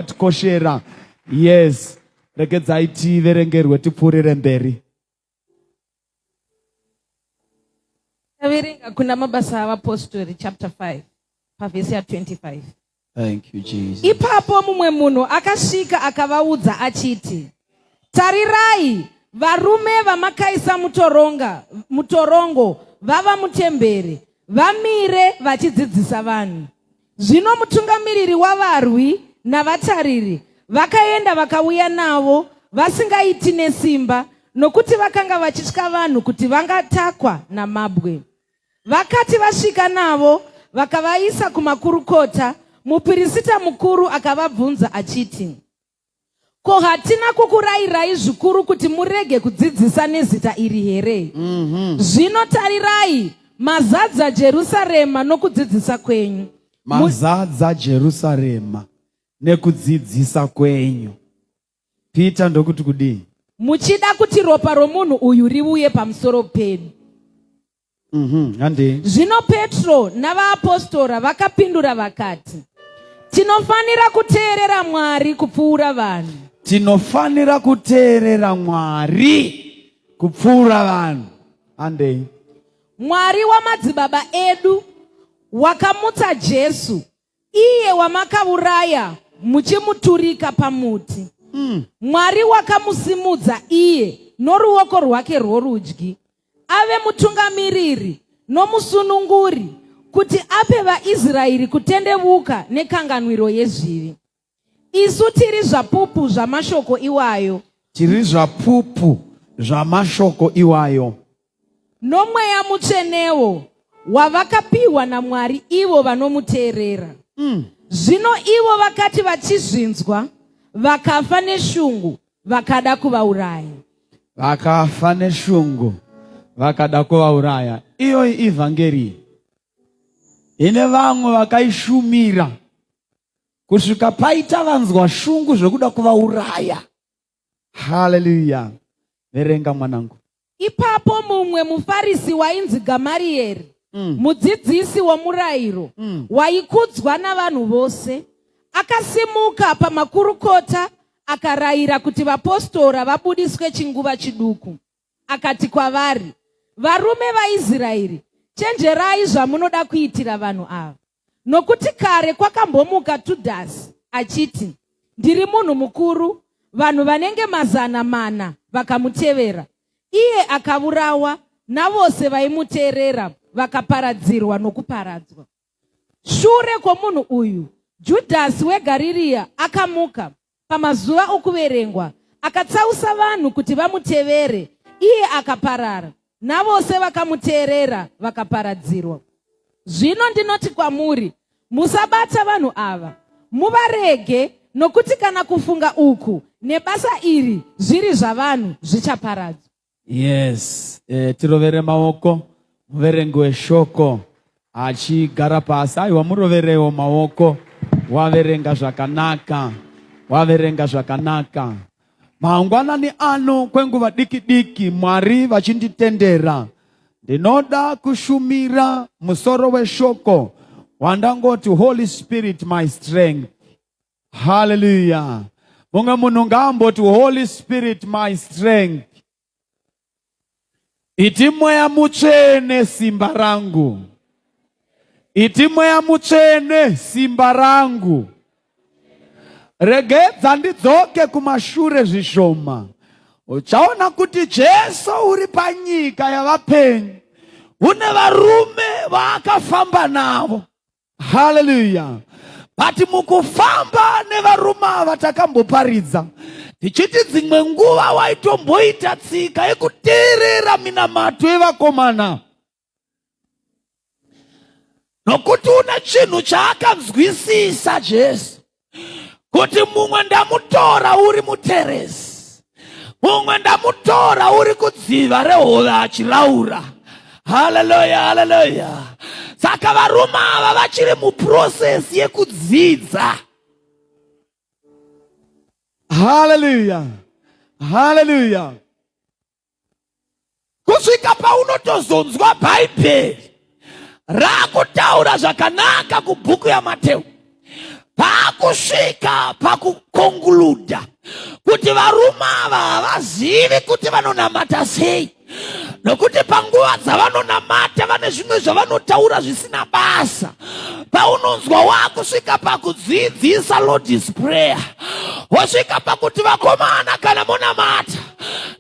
tikoshera yes regedzai tiverengerwe tipfuurire mberi taverenga kuna mabasa avapostori chapter 5 pavhesi ya 25 Thank you, Jesus. ipapo mumwe munhu akasvika akavaudza achiti tarirai varume vamakaisa mutoronga mutorongo vava mutemberi vamire vachidzidzisa vanhu Zvino mutungamiriri wavarwi navatariri vakaenda vakauya navo vasingaiti nesimba nokuti vakanga vachitya vanhu kuti vangatakwa namabwe. Vakati vasvika navo vakavaisa kumakurukota, mupirisita mukuru akavabvunza achiti, ko hatina kukurayirai zvikuru kuti murege kudzidzisa nezita iri here mm -hmm. zvino tarirai mazadza jerusarema nokudzidzisa kwenyu mazadza jerusarema nekudzidzisa kwenyu peter ndokuti kudii muchida kuti ropa romunhu uyu riuye pamusoro pedu Mm-hmm. Zvino Petro navaapostora vakapindura vakati, tinofanira kuteerera Mwari kupfuura vanhu. Tinofanira kuteerera Mwari kupfuura vanhu. Andei. Mwari wamadzibaba edu wakamutsa Jesu iye wamakauraya muchimuturika pamuti mm. mwari wakamusimudza iye noruoko rwake rworudyi ave mutungamiriri nomusununguri kuti ape vaisraeri kutendevuka nekanganwiro yezvivi Isu tiri zvapupu zvamashoko iwayo. Tiri zvapupu zvamashoko iwayo. Nomweya mutsvenewo wavakapiwa naMwari ivo vanomuteerera. Mm. Zvino ivo vakati vachizvinzwa, vakafa neshungu, vakada kuvauraya. Vakafa neshungu, vakada kuvauraya. Iyoyi ivhangeri ine vamwe vakaishumira kusvika paita vanzwa shungu zvekuda kuvauraya haleluya verenga mwanangu ipapo mumwe mufarisi wainzi gamariyeri mm. mudzidzisi womurayiro mm. waikudzwa navanhu vose akasimuka pamakurukota akarayira kuti vapostora vabudiswe chinguva chiduku akati kwavari varume vaisraeri chenjerai zvamunoda kuitira vanhu ava Nokuti kare kwakambomuka Tudhasi achiti, Ndiri munhu mukuru, vanhu vanenge mazana mana vakamutevera. Iye akavurawa navose vaimuteerera vakaparadzirwa nokuparadzwa. Shure kwomunhu uyu, Judhasi weGarirea akamuka pamazuva okuverengwa, akatsausa vanhu kuti vamutevere, iye akaparara, navose vakamuteerera vakaparadzirwa. Zvino ndinoti kwamuri, musabata vanhu ava, muvarege, nokuti kana kufunga uku nebasa iri zviri zvavanhu zvichaparadzwa. Yes, e, tirovere maoko muverengi weshoko achigara pasi. Aiwa, muroverewo maoko. Waverenga zvakanaka, waverenga zvakanaka. Mangwanani ano kwenguva diki diki, Mwari vachinditendera, ndinoda kushumira musoro weshoko wandangoti Holy Spirit my strength. Hallelujah. Mumwe munhu ngaamboti Holy Spirit my strength. Iti mweya mutsvene simba rangu. Iti mweya mutsvene simba rangu. Regedza ndidzoke kumashure zvishoma. Uchaona kuti Jesu uri panyika yavapenyu. Une varume vaakafamba navo. Hallelujah. But mukufamba nevarume ava takamboparidza tichiti dzimwe nguva waitomboita tsika yekuteerera minamato yevakomana nokuti une chinhu chaakanzwisisa Jesu. kuti mumwe ndamutora uri muteresi mumwe ndamutora uri kudziva rehove achiraura haleluya haleluya saka varume ava vachiri muprosesi yekudzidza haleluya haleluya kusvika paunotozonzwa bhaibheri raakutaura zvakanaka kubhuku yamateu paakusvika pakukonguluda kuti varume ava havazivi kuti vanonamata sei nokuti panguva dzavanonamata vane zvimwe zvavanotaura zvisina basa paunonzwa wakusvika pakudzidzisa lordis prayer wosvika pakuti vakomana kana monamata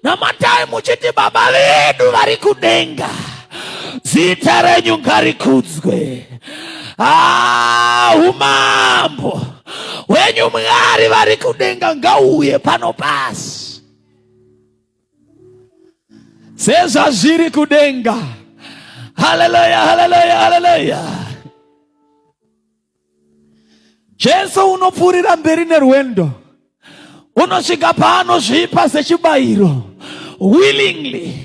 namatai muchiti baba vedu vari kudenga zita renyu ngarikudzwe ah, umambo wenyu mwari vari kudenga ngauye pano pasi sezvazviri kudenga haleluya haleluya haleluya Jesu unopfuurira mberi nerwendo unosvika paanozvipa sechibayiro willingly.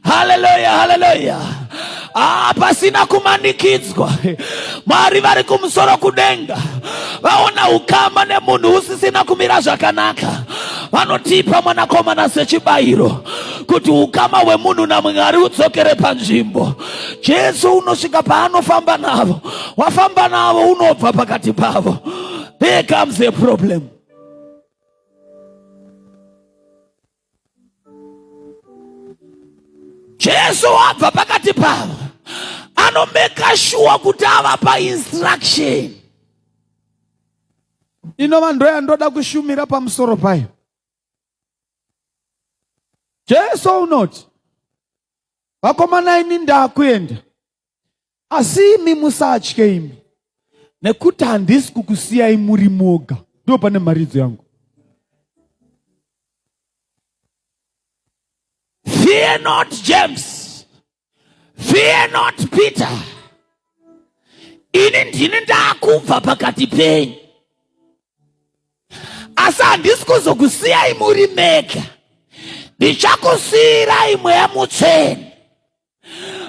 Haleluya, haleluya! Ah, pasina kumanikidzwa. Mwari vari kumusoro kudenga vaona ukama nemunhu usisina kumira zvakanaka, vanotipa mwanakomana sechibayiro kuti ukama hwemunhu naMwari udzokere panzvimbo. Jesu unosvika paanofamba navo, wafamba navo unobva pakati pavo. There comes a problem. Jesu wabva pakati pavo anomeka shuwa kuti avapa instruction inova ndoyandoda kushumira pamusoro payo. Jesu unoti vakomana imi ndakuenda asi imi musatye imi nekuti handisi kukusiyai muri moga ndo pane mharidzo yangu fear not james fear not peter ini ndini ndakubva pakati penyu asi handisi kuzokusiyai muri mega ndichakusiyirai mweya mutsvene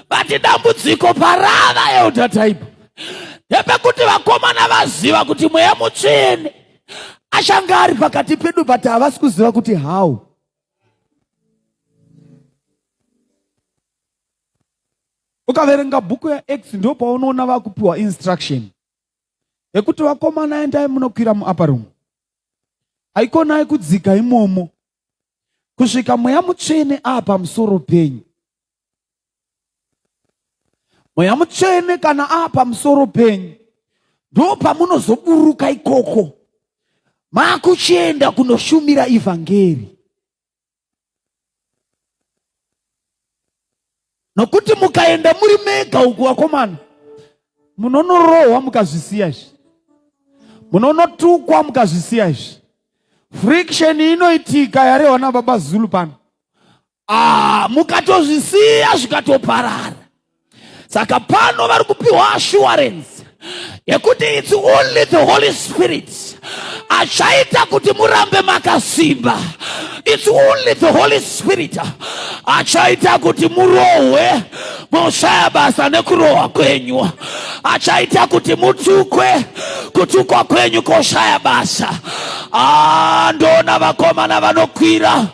vati dambudziko parava elder type ndepekuti vakomana vaziva kuti mweya mutsvene achange ari pakati pedu but havasi kuziva kuti how ukaverenga bhuku yaex ndo paunoona vakupiwa instruction yekuti vakomana endai munokwira muapa room haikonai kudzika imomo kusvika mweya mutsvene ava pamusoro penyu mweya mutsvene kana ava pamusoro penyu ndo pamunozoburuka ikoko makuchienda kunoshumira ivhangeri nokuti mukaenda muri mega uku vakomana munonorohwa mukazvisiya izvi munonotukwa mukazvisiya izvi friction inoitika yarehwa nababa zulu pano ah, mukatozvisiya zvikatoparara saka pano vari kupiwa assurance yekuti its only the holy spirit achaita kuti murambe makasimba its only the holy spirit achaita kuti murohwe moshaya basa nekurohwa kwenyu achaita kuti mutukwe kutukwa kwenyu koshaya basa ah, ndoona vakomana vanokwira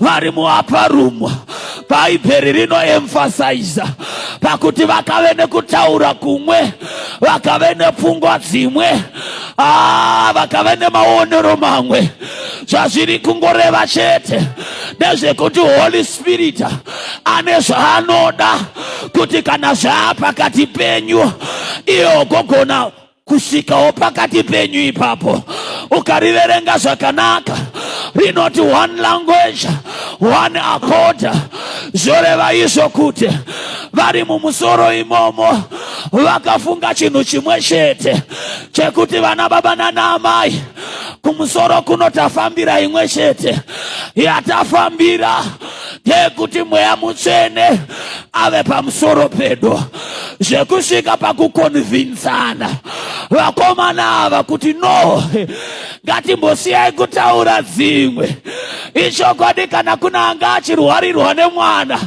vari muaparumwa bhaibheri rinoemfasaiza pakuti vakave nekutaura kumwe vakave nepfungwa dzimwe ah, vakave nemaonero mamwe zvazviri kungoreva chete ndezvekuti holy spirit ane zvaanoda kuti kana zvaapakati penyu iye ogogona kusvikawo pakati penyu ipapo ukariverenga zvakanaka rinoti one language one accord zvoreva izvo kuti vari mumusoro imomo vakafunga chinhu chimwe chete chekuti vana baba nana amai kumusoro kuno tafambira imwe chete yatafambira ndeyekuti mweya mutsvene ave pamusoro pedu zvekusvika pakukonvinsana vakomana ava kuti no ngatimbosiyai kutaura dzimwe ichokwadi kana kuna anga achirwarirwa nemwana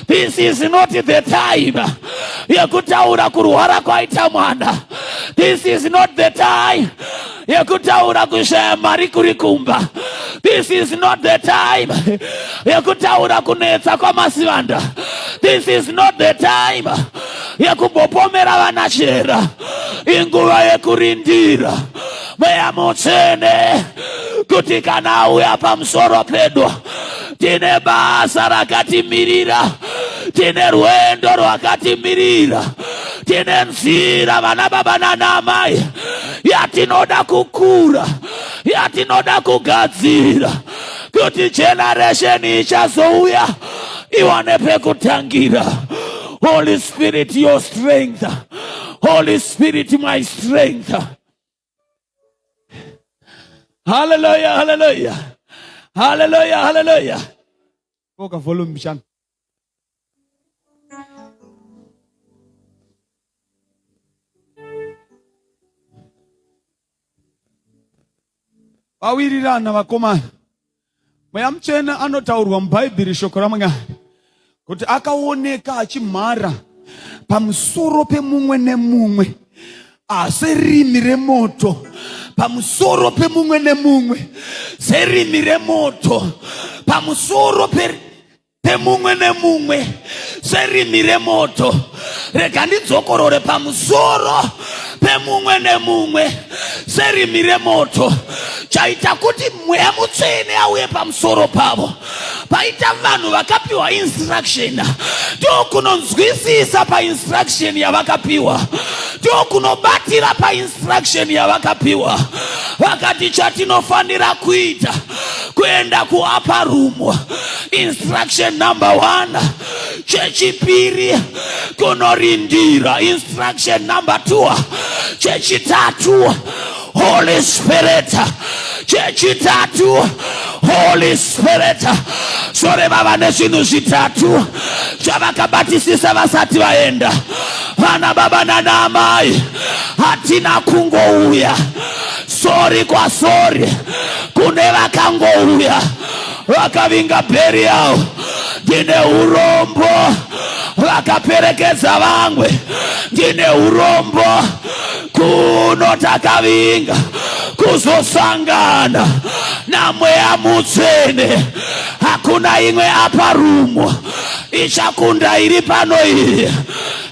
this is not the time yekutaura kurwara kwaita mwana this is not the time yekutaura kushaya mari kuri kumba this is not the time yekutaura kunetsa kwamasivanda this is not the time yekumbopomera vana chera inguva yekurindira mweya mutsvene kuti kana auya pamusoro pedu tine basa rakatimirira tine rwendo rwakatimirira tine nzira vana baba nana amai yatinoda kukura yatinoda kugadzirira kuti generesheni ichazouya iwane pekutangira holy spirit your strength holy spirit my strength haleluya haleluya haleluya haleluya Koka volume mbichana. Vawirirana vakomana. Mweya mutsvene anotaurwa muBhaibheri shoko raMwari kuti akaoneka achimhara pamusoro pemumwe nemumwe serimi remoto pamusoro pemumwe nemumwe serimi remoto pamusoro pemumwe nemumwe serimi remoto rega ndidzokorore pamusoro pemumwe nemumwe serimi remoto chaita kuti mweya mutsvene auye pamusoro pavo paita vanhu vakapiwa instruction ndokunonzwisisa painstruction yavakapiwa ndokunobatira painstruction yavakapiwa vakati chatinofanira kuita kuenda kuapa rumo instruction number one chechipiri kunorindira instruction number two chechitatu Holy Spirit. Chechitatu, Holy Spirit. Sore vava nezvinhu zvitatu zvavakabatisisa vasati vaenda. Vana baba nana amai, hatina kungouya sori kwasori kune vakangouya vakavinga bheri yavo ndine urombo vakaperekedza vamwe ndine urombo kuno takavinga kuzosangana namweya mutsvene hakuna imwe apa rumo ichakunda iri pano iyi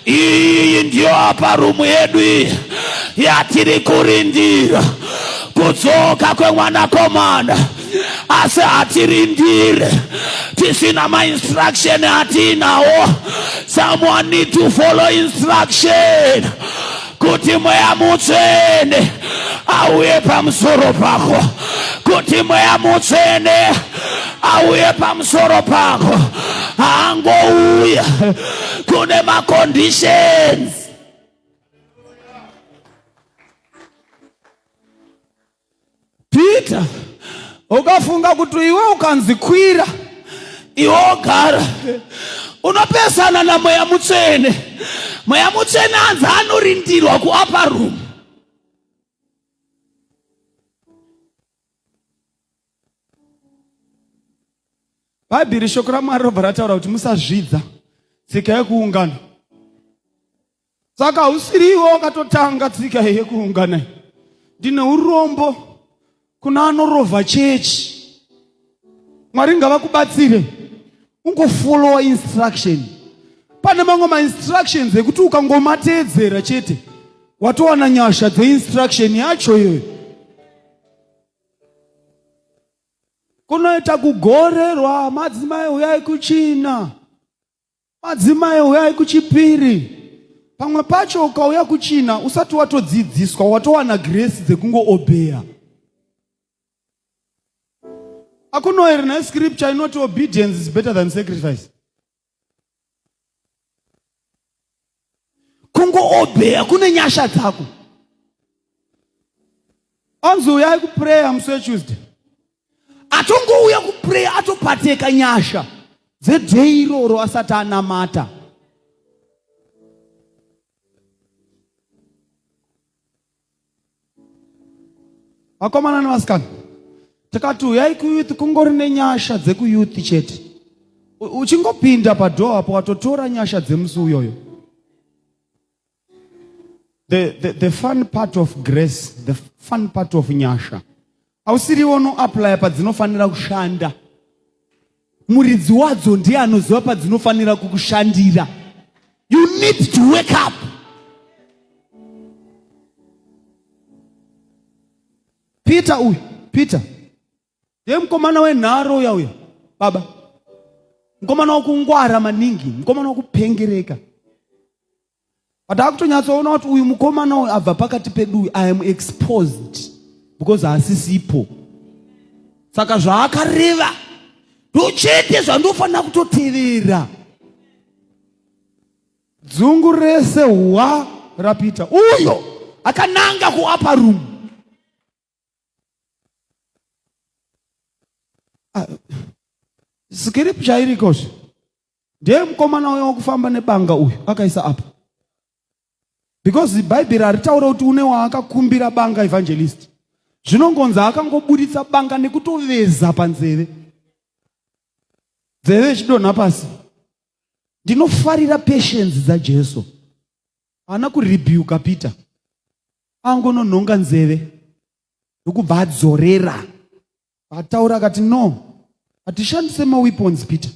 iyi ndiyo apa rumu yedu iyi yatiri kurindira kudzoka kwemwanakomana asi hatirindire tisina mainstruction atiinawo someone need to follow instruction kuti mweya mutsvene auye pamusoro pako kuti mweya mutsvene auye pamusoro pako haangouya kune maconditions Peter ukafunga kuti iwe ukanzi kwira iwe ogara unopesana namweya mutsvene mweya mutsvene anzi anorindirwa kuapa room bhaibheri shoko ramwari robva rataura kuti musazvidza tsika yekuungana Saka usiriwo wakatotanga tsika yekuungana. Ndine urombo kuna anorova chechi. Mwari ngavakubatsire. Ungofollowa instruction. Pane mamwe mainstructions ekuti ukangomateedzera chete watowana nyasha dzeinstruction yacho iyoyo. Kunoita kugorerwa madzimai uyai kuchina. Madzimai huyai kuchipiri. Pamwe pacho ukauya kuchina usati watodzidziswa watowana grace dzekungoobeya. Akuno here ne scripture inoti obedience is better than sacrifice. kungoobeya kune nyasha dzako anzi uyai kuprayer musi wetuesday atongouya kuprayer atopateka nyasha dzedhei iroro asati anamata vakomana nevasikana tikati uyai kuyouth kungori nenyasha dzekuyouth chete uchingopinda padhoo apo watotora nyasha dzemusi uyoyo the, the, the fun part of grace the fun part of nyasha hausiriwo unoaplaya padzinofanira kushanda muridzi wadzo ndiye anoziva padzinofanira kukushandira you need to wake up peter uyu peter ndiye mukomana wenharo uya uya baba mukomana wakungwara maningi mukomana wakupengereka but akutonyatsoona kuti uyu mukomana uyu abva pakati pedu uyu i am exposed because haasisipo saka zvaakareva ndochete zvandofanira kutotevera dzungu rese hwa rapita uyo akananga kuapa room Ah, sikiripi chairiko zve ndiye mukomana uyo wakufamba nebanga uyu akaisa apa because bhaibheri haritaure kuti une waakakumbira banga evangelist zvinongonzi akangoburitsa banga nekutoveza panzeve dzeve ichidonha pasi ndinofarira patience dzajesu haana kurebuka peter angononhonga nzeve ndokubva adzorera vataura akati no hatishandise maweapons peter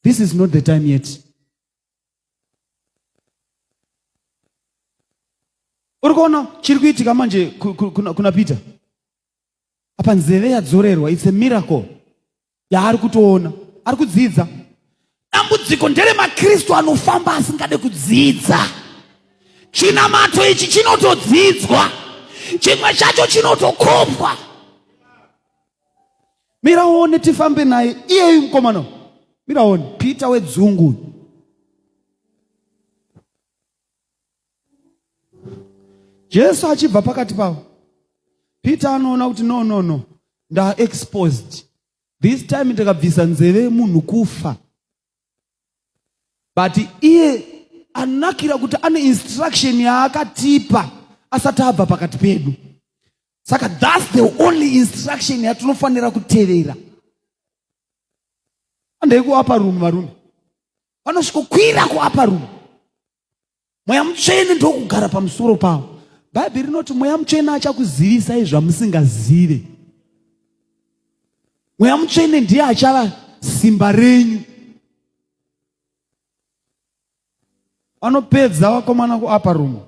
this is not the time yet uri kuona chiri kuitika manje kuna peter apa nzeve yadzorerwa its a miracle yaari kutoona ari kudzidza dambudziko ndere makristu anofamba asingade kudzidza chinamato ichi chinotodzidzwa chimwe chacho chinotokopwa miraone tifambe naye iyeyu mukomana miraone pita wedzungu Jesu achibva pakati pavo, Peter anoona kuti no no no, nda exposed this time, ndakabvisa nzeve yemunhu kufa. But iye anakira kuti ane instruction yaakatipa asati abva pakati pedu. Saka that's the only instruction yatinofanira kutevera. Andai kuapa room varume, vanosvikokwira kuapa room mweya mutsvene ndokugara pamusoro pavo bhaibheri rinoti mweya mutsvene achakuzivisai zvamusingazive mweya mutsvene ndiye achava simba renyu vanopedza vakomana kuaparumu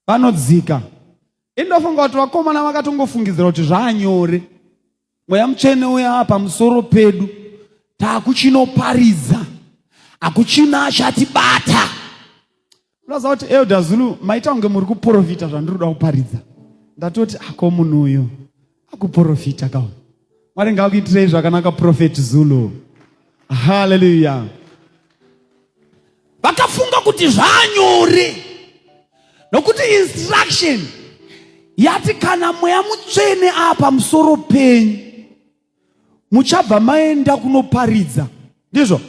vanodzika indofunga kuti vakomana vakatongofungidzira kuti zvaanyore mweya mutsvene uya ava pamusoro pedu taakuchinoparidza hakuchina achatibata unoziva kuti elder zulu maita kunge muri kuprofita zvandiri kuda kuparidza ndatoti ako munhu uyu akuprofita kawo mwari ngakuitirei zvakanaka profeti zulu haleluya vakafunga kuti zvanyore nokuti instruction yati kana mweya mutsvene aa pamusoro penyu muchabva maenda kunoparidza ndizvo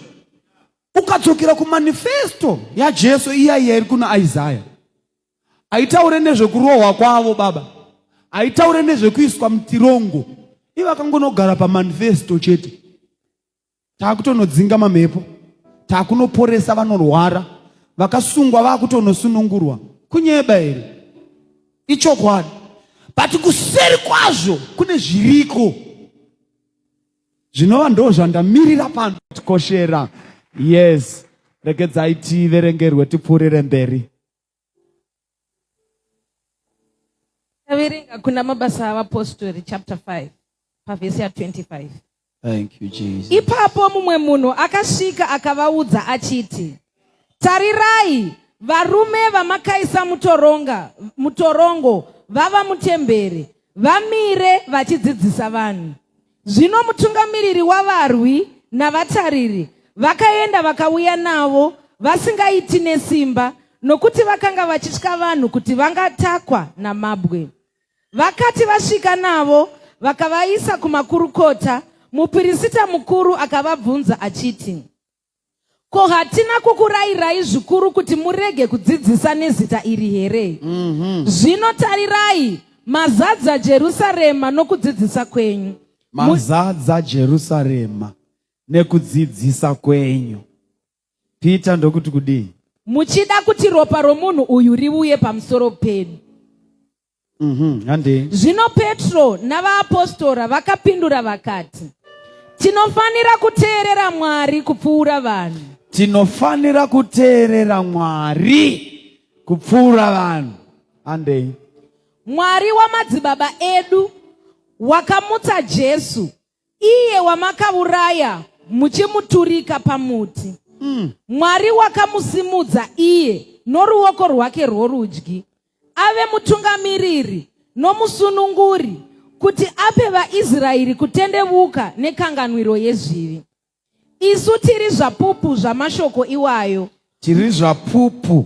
ukadzokera kumanifesto yajesu iya iya iri kuna isaya haitaure nezvekurohwa kwavo baba haitaure nezvekuiswa mutirongo ivakangonogara pamanifesto chete taakutonodzinga mamhepo taakunoporesa vanorwara vakasungwa vakutonosunungurwa kunyeba here ichokwadi but kuseri kwazvo kune zviriko zvinova ndo zvandamirira pano tikoshera yes regedzai tiverengerwe tipfuurire mberi taverenga kuna mabasa avapostori chapter 5 pavhesi ya25 Thank you, Jesus. ipapo mumwe munhu akasvika akavaudza achiti tarirai varume vamakaisa mutoronga mutorongo vava mutemberi vamire vachidzidzisa vanhu Zvino mutungamiriri wavarwi navatariri vakaenda vakauya navo vasingaiti nesimba nokuti vakanga vachitya vanhu kuti vangatakwa namabwe. Vakati vasvika navo vakavaisa kumakurukota, mupirisita mukuru akavabvunza achiti, ko hatina kukurayirai zvikuru kuti murege kudzidzisa nezita iri here mm -hmm. zvino tarirai mazadza jerusarema nokudzidzisa kwenyu mazadza jerusarema nekudzidzisa kwenyu pita ndokuti kudii muchida kuti ropa romunhu uyu riuye pamusoro pedu mm -hmm. zvino petro navaapostora vakapindura vakati tinofanira kuteerera mwari kupfuura vanhu tinofanira kuteerera mwari kupfuura vanhu andei mwari wamadzibaba edu wakamutsa jesu iye wamakauraya muchimuturika pamuti mm. mwari wakamusimudza iye noruoko rwake rworudyi ave mutungamiriri nomusununguri kuti ape vaisraeri kutendevuka nekanganwiro yezvivi isu tiri zvapupu zvamashoko iwayo tiri zvapupu